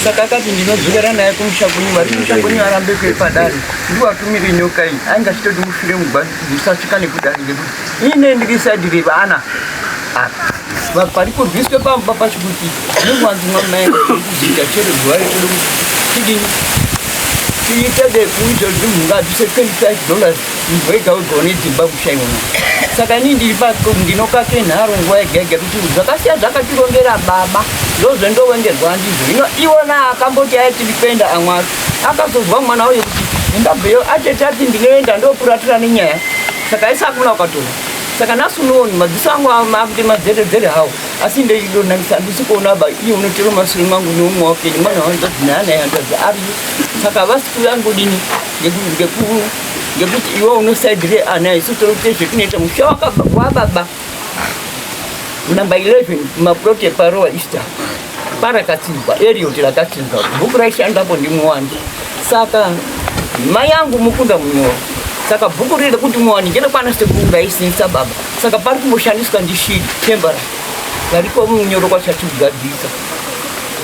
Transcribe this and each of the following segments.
saka akati ndinodzokera naye kumusha kwenyu vari kumusha kwenyu arambe kwe padare ndiwatumire nyoka iyi ainge achitoti mufire mugwani ndisasvika nekudare ngekuti ine ndiri saidi revana apa pari kurwiswe pamba pacho kuti nemwanzi mwamaenda kuita chere zuva rekuti tidini tiite dekuizvozvi mungabvise 25 dollars Munhu wega wega une dzimba kushaiwa saka inini ndiri pako ndinokake nharo nguva yega yega kuti zvakasiya zvakatirongera baba ndozvendowengerwa ndizvo hino iwona akamboti aye tiri kuenda amwari akazozwa mwana wayo kuti ndabveyo atete ati ndinoenda ndokuratira nenyaya saka isakuna ukatoa saka nhasi unooni madziso angu akuti madzeredzere hawo asi ndeidonaisa handisi kuona ba iye unotero masure mangu neumwe wakenyu mwana wanzati naana yandadzi ariyo saka vasiku vangu dini ngekuti iwe unosaidire ana isu tiri kuita zvetinoita musha wababa number 11 maplot eparowa easter parakatsinzwa eriot rakatsinzwa bhuku raishandapo ndimuwandi saka mai yangu mukunda munyoro saka bhuku riri rekuti muwandi ngerekwana sekuru raisinisa baba saka pari kumboshandiswa ndishidi tembara variko munyoro kwachati kugadzisa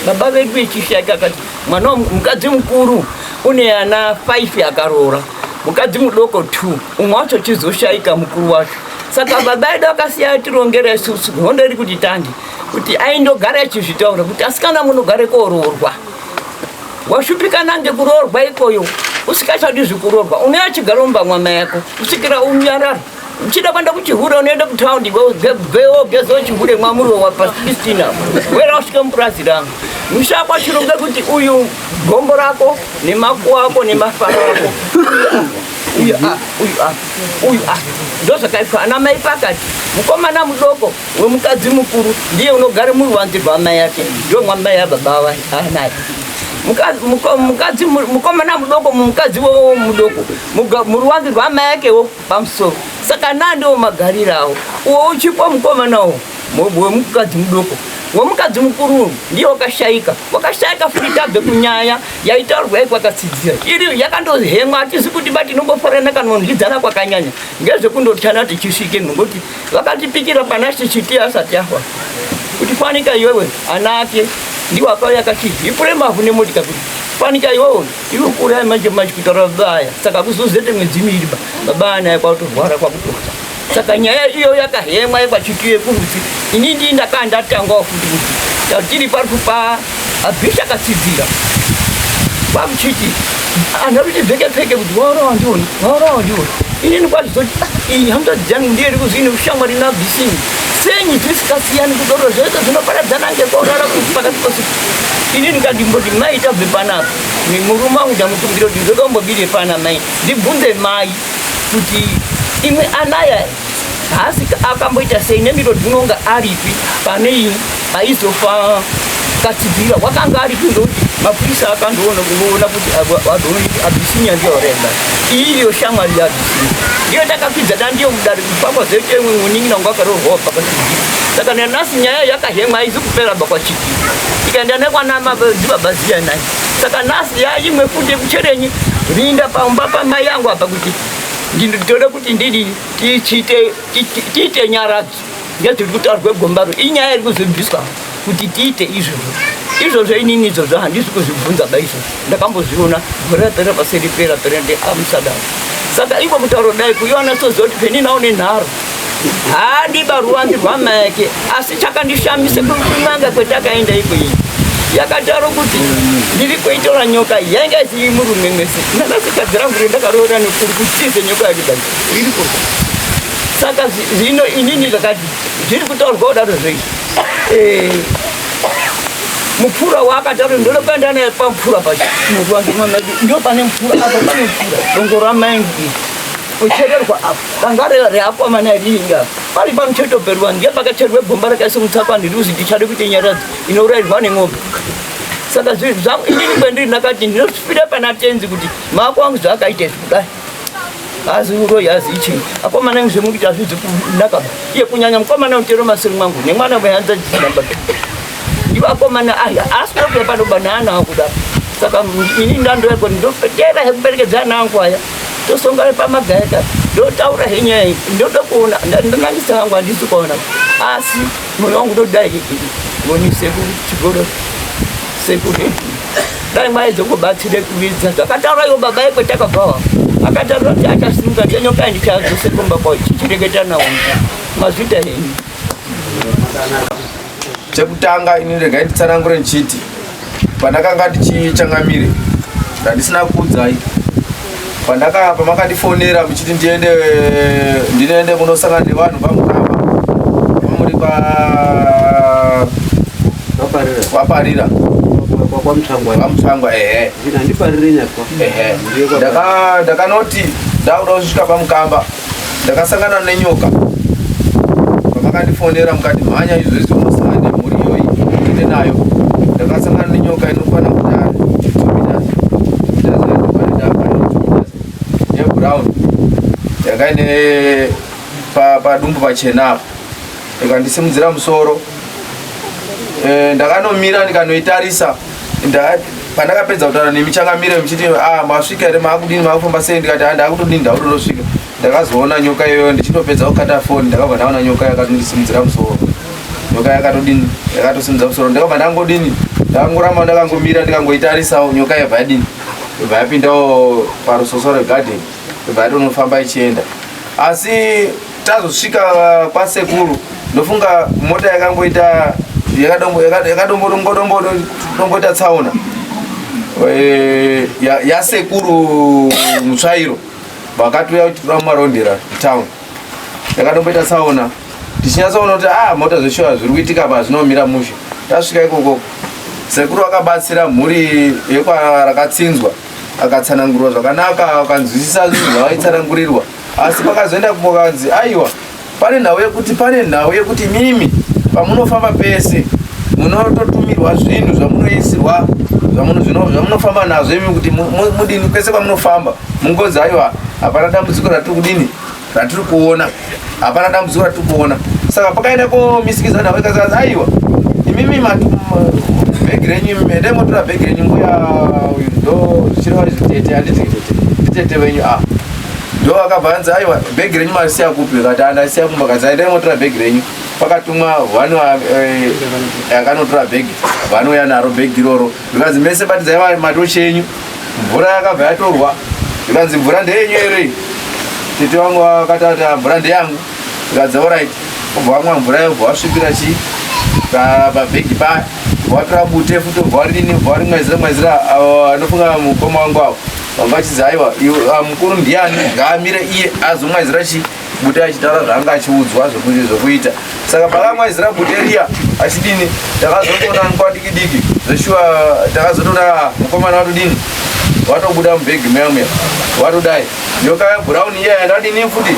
baba vedu vechishaika akati mwana wa mukadzi mukuru une ana 5 akaroora mukadzi mudoko 2 umwe wacho chizoshaika mukuru wacho saka baba edu akasiya atirongera isusu hondo iri kuti tandi kuti aindogara achizvitaura kuti asikana munogare koroorwa washupikana ngekuroorwa ikoyo usikachadi zvekurorwa unoya chigaro mumba mwama yako kusvikira unyarara uchida kwenda kuchihure unoenda kutaundi gwewo gezo chihure mwamuriwo wapasistina wera usvike mupurazi rangu mushakwa chirunge kuti uyu gombo rako nemakuwa ako nemafaro ako uyu apa uyu apa uyu apa ndozvakaitwa ana mai pakati mukomana mudoko wemukadzi mukuru ndiye unogara muri wanzi rwamai yake ndiwo mwamai yababa vanaye mukomana mudoko mumukadzi wowo mudoko muruwanzi rwamai yakewo pamusoro saka naa ndiwo magarirawo uwo uchipo mukomanawo wemukadzi mudoko wemukadzi mukuru ndiye wakashaika wakashaika futi tabve kunyaya yaitaurwa yai kwakatsidzira iri yakandohemwa hatizi kuti ba tinongofarana kana nondidzana kwakanyanya ngezvekundotyana tichisvike nokuti vakatipikira pana shishiti asati afa kuti fanika iwewe ana ake ndiwakauya kati ipure mavhu nemotika kuti fanika iwewe Tinokuuraya manje manje kutaura baba aya, saka kuzozete mwedzi miviri ba baba anaya kwakutorwara kwakutofa. Saka nyaya iyo yakahemwa yekwachitiye kurudzi, ini ndii ndakaa ndatangwawo futi kuti tatiri pari kupa abhisha katsidzira kwakuchiti anhu akuti pfeke pfeke kuti waurawa ndiwona waurawa ndiwona inini kwazvizoti ah, iyi hamza dzangu ndiye iri kuzini ushamwari nabhisini senyi tisikasiyani kudoro zvese zvinoparadzana ngekwaurara kuti pakati pasuku ini ndikati mboti mai tabve panapa murume wangu ndamukumbira kuti ndoda kumbobire pana mai ndibvunze mai kuti imwe anaya haasi akamboita sei nemiro dzinonga aripi pane ini aizofa katibvira wakanga aripi ndokuti mapurisa akandoona kuona kuti abisinya ndiyo remba iyo shamwari yabisinya ndiyo takakwidza da ndiyo mudari kuti pamozeite mwe munin'ina wangu akarorwawo pakatibvira saka nanasi nyaya yakahemwa aizi kupera bakwachi ikaenda nekwana mababa ziya naye saka nhasi yaimwe futi yekucherenyi rinda pamba pamai yangu apa kuti ndinotode kuti ndidi tiite nyaradzo ngezviri kutaurwa gombaro inyaya iri kuzobviswa kuti tiite izvozvo izvozvo inini izvozvo handisi kuzvibvunza ba izvozvo ndakambozviona gore rapera paseri pera pera ndeamusadaro saka iko mutauro dai kuiona sozoti peninawo nenharo haadi baruwandu rwamake asi chakandishamisa kunanga kwetakaenda ikweyi yakadaro kuti ndiri kuitora nyoka yainge isiri murume mese ndakazikadzi rangu ri ndakaroora nekuri kutize nyoka yadidai riri ku saka zvino inini zvakati zviri kutaurwa kudaro zvei eh, mupfura waakadaro ndode kuenda naye pamupfura pacho muruwandu mwamedu ndo pane mupfura apa pane mupfura dongo ramaingi kuchererwa apa Danga reakomana iri inga pari pamucheto perwani ndiye pakacherwe gomba rakaisa mutsakwa ndiruzi ndichade kuita nyaradzi inourayirwa nemombe saka zvinhu zvangu inini kwendiri ndakati ndinozvipira pana tenzi kuti mako wangu zvaakaita izvi kudai hazi uroyi hazi ichii akomana ingu zvemukuti hazvizi kunaka iye kunyanya mukomana utero masiri mwangu nemwana wehanza dzisinamba ivo akomana aya asina kuya panoba naana angu kudai saka ini ndandoko ndofetera hekuperekedza ana angu aya tosongana pamagayata ndotaura he nyaya iyi ndoda kuona ndonangisa hangu handisi kuona asi mwoyo wangu ndodai ngoni sekuru chigoro sekuru dai mai dzokubatsire kuvidza zvakataura iwo baba yekwe takabvawa akataura kuti achasimuka ndiyanyokai ndichazose kumba kwao chichireketa nawo mazvita henyu Chekutanga ini regai nditsanangure ndichiti pandakanga ndichichangamire ndandisina kuudzai pandaka pamakandifonera muchiti ndiende ndinoende kunosangana nevanhu vamukamba vamuri pa vaparira kwamutsvangwa ehe ndakanoti ndakuda kusvika pamukamba ndakasangana nenyoka pamakandifonera mukati mhanya izvezvi unosangana nemhuri iyoyi ine nayo ndakasangana nenyoka inokwana kudari yebrown yakaine padumbu pachena apa ndikandisimudzira musoro eh, ndakanomira ndikanoitarisa pandakapedza kutaura nemi changamire muchiti ah, masvika here maakudini maakufamba sei ndikati ah, ndakutodini ndakutodosvika ndakazoona nyoka iyoyo ndichitopedza kukata foni ndakabva ndaona nyoka yakatondisimudzira musoro nyoka yakatodini yakatosimudza musoro ndakabva ndangodini ndakangoramba ndakangomira ndikangoitarisawo nyoka yabva yadini ibva yapindawo parusoso regarden ibva yatonofamba ichienda asi tazosvika uh, kwasekuru ndofunga mota yakamboita yakadomboita tsaona eh, yasekuru mutsvairo vakatouya kuti toda kumarondera town yakadomboita tsaona tichinyatsoona kuti a ah, mota zveshuwa zviri kuitika pa zvinomira mushe tasvika ikoko sekuru vakabatsira mhuri yekwarakatsinzwa akatsanangurwa zvakanaka akanzwisisa zvinhu zvavaitsanangurirwa asi pakazoenda kumovanzi aiwa pane nhau yekuti pane nhau yekuti mimi pamunofamba pese munototumirwa zvinhu zvamunoisirwa zvamunofamba nazvo imi kuti mudini pese pamunofamba mungonzi aiwa hapana dambudziko ratiri kudini ratiri kuona hapana dambudziko ratiri kuona saka pakaenda komisikiza nhau ikazikanzi aiwa imimi bhegi renyu mende motora bhegi renyu mbuya uyu ndo zvichireva zvitete handiti nditete venyu a ah. ndo akabva anzi aiwa bhegi renyu marisiya kupi kati andasiya kumba kazi aita imotora bhegi renyu pakatumwa one eh, akanotora bhegi vanouya naro bhegi iroro ikanzi mese batidzai matochi enyu mvura yakabva yatorwa ikanzi mvura ndeyenyu ere tete wangu akatata mvura ndeyangu zvikadzi orit obva wamwa mvura yobva wasvipira chii pabhegi paya watora bute futi obva warini obva wari mwezira mwezira anofunga mukoma wangu avo vanga vachizi aiwa ah, mukuru ndiani ngaamire iye azomwezira chii bute achitaura zvaanga achiudzwa zvokuita saka pakamwezira bute riya achidini takazotoona nguva diki diki zveshuwa takazotoona mukomana watodini watobuda mubhegi meya meya watodai nyoka yebrown iya yandadini futi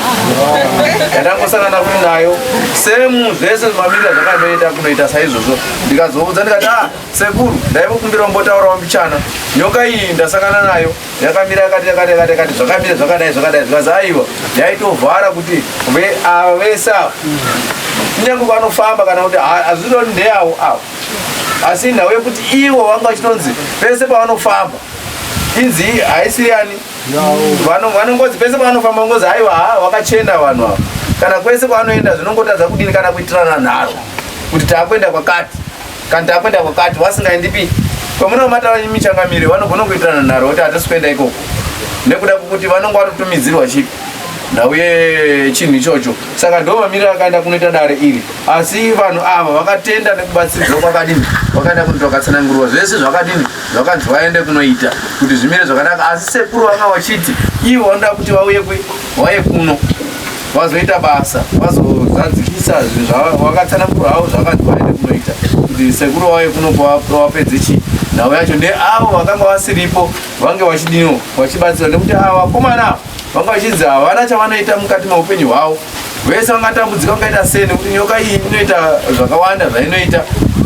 yandangosangana futi nayo semu zvese mamira zvakandoita kunoita saizvozvo ndikazoudza ndikati a ah, sekuru ndaivokumbira mbotaurawo mbichana nyoka iyi ndasangana nayo yakamira yakati yakati yakati yakati zvakamira zvakadai zvakadai zvikazi aiwa yaitovhara kuti ava vese ava kunyange vanofamba kana kuti hazvironi ndeavo avo asi nhau yekuti ivo vanga vachitonzi pese pavanofamba inzi haisiri yani Vano vano ngozi pese pavanofamba ngozi haiwa ha wakachena vanhu ava kana kwese kwavanoenda zvinongotadza kudini kana kuitirana nharo kuti taakuenda kwakati kana taakuenda kwakati vasingaendipi kwamunomata michangamire vanogona kuitirana nharo kuti hatisi kuenda ikoko nekuda kwekuti vanonge vatotumidzirwa chii ndauye chinhu ichocho saka ndo mamiriro akaenda kunoita dare iri asi vanhu ava vakatenda nekubatsiridzwa kwakadini vakaenda kunoita vakatsanangurwa zvese zvakadini vakanzi vaende kunoita kuti zvimire zvakanaka asi sekuru vanga vachiti ivo vanoda kuti vauye vauye kuno vazoita basa vazozadzikisa zvinhu zvavakatsanangura havo zvakanzi vaende kunoita kuti sekuru vauye kuno kwavapedze chii nhau yacho ndeavo vakanga vasiripo vange vachidiniwo vachibatsira nekuti ava vakomana ava vanga vachinzi havana chavanoita mukati meupenyu hwavo vese vangatambudzika kungaita sei nekuti nyoka iyi inoita zvakawanda zvainoita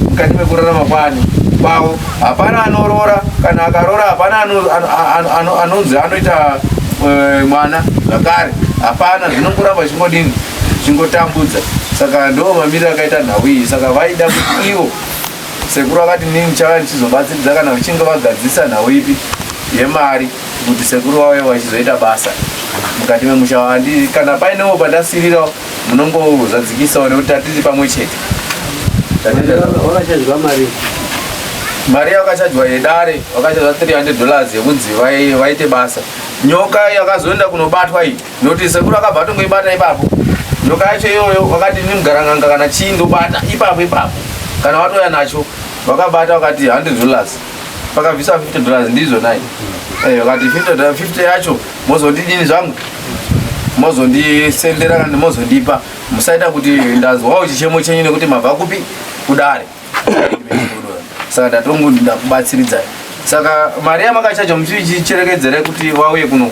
mukati mekurarama kwani kwavo hapana anorora kana akarora hapana anonzi anoita eh, mwana zvakare hapana zvinongoramba chingodini chingotambudza saka ndo mamiriro akaita nhau iyi saka vaida kuti ivo sekuru vakati nini chava ndichizobatsiridza kana vachinge vagadzisa nhau ipi yemari yeah, kuti sekuru vauye vachizoita basa mukati memusha wandi kana painewo pandasirira munongozvadzikisawo nekuti tatiri pamwe chete wakachajwa mari mari yakachajwa yedare wakachajwa 300 dollars yekunzi vaite basa nyoka yakazoenda kunobatwa iyi nokuti sekuru akabva atongoibata ipapo nyoka yacho iyoyo wakati nimugaranganga kana chii ndobata ipapo ipapo kana watoya nacho wakabata wakati 100 dollars pakabvisa 50 dollars ndizvo nai eh, vakati 50 dollars 50 yacho mozondidini zvangu mozondisendera kana mozondipa musaita kuti ndanzwawo chichemo chenyu nekuti mabva kupi kudare saka ndatongu ndakubatsiridzai saka mari yamakachaja muchicherekedzere kuti wauye kuno